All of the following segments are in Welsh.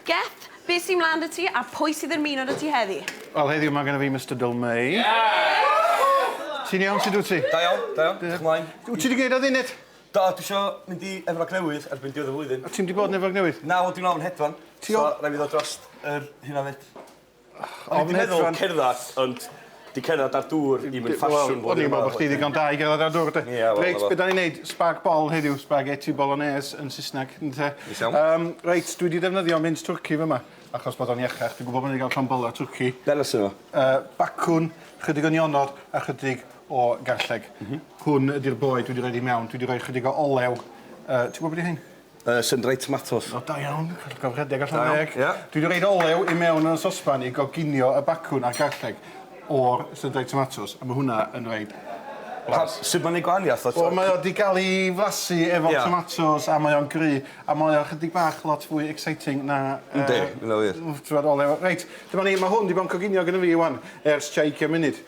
Geth, be sy mlan 'da ti a pwy sydd ymuno 'da ti heddi? Wel heddiw ma' gynna fi Mister Dyl Mei. Ww! Ti'n iawn sud wt ti? Da iawn, da iawn. Diolch. Mlaen. Wt ti 'di gneud o funud? Do dwi isio mynd i Efrog Newydd erbyn diwedd y flwyddyn. O ti'm 'di bod yn Efrog Newydd? Na wel dwi'n ofn hedfan. Ti o-... So rai' fi ddod drost yr hyn 'na 'fyd. O'n i 'di meddwl cerddad ond 'di cerddad ar dŵr ddim yn ffasiwn blwyddyn yma. Wel o'n i'n meddwl bo' chdi ddigon da i gerddad ar dŵr de? Ia wel 'na fo. Reit be' 'dan ni'n neud spag bol heddiw spaghetti bolognese yn Sysneg ynte? Neis iawn. Yym reit dwi 'di defnyddio mins twrci fy' 'ma achos bod o'n iachach dwi'n gwbo bo' ni 'di ga'l llond bola twrci. Be' arno sy 'ma? Yy bacwn, chydig o nionod a chydig o garlleg. M-hm. Hwn ydi'r boed dwi 'di roid i mewn dwi 'di roi chydig o olew yy ti gwbo be' 'di rhein? Yy sun-dried tomatos. O da iawn. Digon rhedeg a llond deg. Da iawn, ie. Dwi 'di roid olew i mewn yn y sosban i goginio y bacwn a'r garlleg o'r sun-dried tomatos a ma' hwnna yn roid blas. Pa- sud ma'n neud gwahaniath o t'o'? Wel mae o 'di ga'l 'i flasu efo... Ia. ...tomatos a mae o'n gry' a mae o chydig bach lot fwy exciting na yy... Yndi, ma' wnna wir. ...w- t'mod olew. Reit, dyma ni, ma' hwn 'di bo' yn coginio gynno fi ŵan ers tua ugian munud.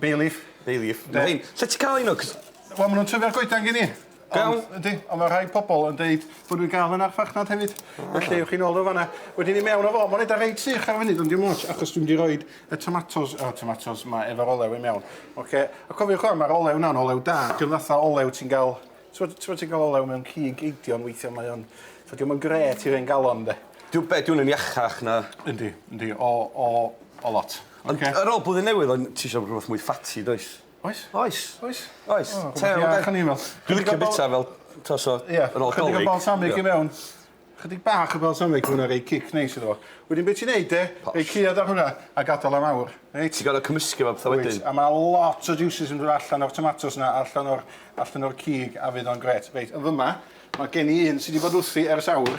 Bay leaf. Bay leaf. Be'? Rhein. Lle ti ca'l rhein o 'c'os... Wel ma' nw'n tyfu ar goedan gin i. Go iawn. Ond yndi on' ma' rhai pobol yn deud bo' nw'n ga'l hwn ar farchnad hefyd. Felly ewch i nôl o fan 'na. Wedyn i mewn â fo. Ma'n edar reit sych ar y funud ond dim otsh achos dwi mynd i roid y tomatos o tomatos 'ma efo'r olew i mewn. Oce? A cofiwch ŵan ma'r olew 'na'n olew da. Dio'm fatha olew ti'n ga'l t'mod t'mod ti'n ga'l olew mewn cig eidion weithia' mae o'n t'o' dio'm yn grêt i'r un galon 'de? Dyw be' 'di wn yn iachach na... Yndi yndi o o o lot. Ond ar ôl blwyddyn newydd o'n ti isio rwbeth mwy ffatty does? Oes. Oes. Oes. Oes. O rwbeth i iach yn 'i fel. Dwi'n licio bita fel t'o' so ar ôl 'Dolig. Ie. Chydig o balsamic i mewn. Chydig bach o balsamic ma' wnna roi cic neis iddo fo. Wedyn be' ti'n neud de? Posh. Roi ceuad ar hwnna a gadal am awr. Reit? Ti gor'o' cymysgu fo petha wedyn. Wyt. A ma' lot o jiwsys yn do' allan o'r tomatos 'na allan o'r allan o'r cig a fydd o'n grêt. Reit yn fy' 'ma ma' gen i un sy 'di bod wrthi ers awr.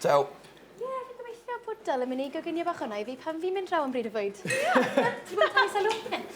Ciao! Ie, fi'n gobeithio bod Dylan yn mynd i goginio bach hwnna i fi pan fi'n mynd draw am bryd o fwyd. Ie! Ti'n gweld Tiny Saloon?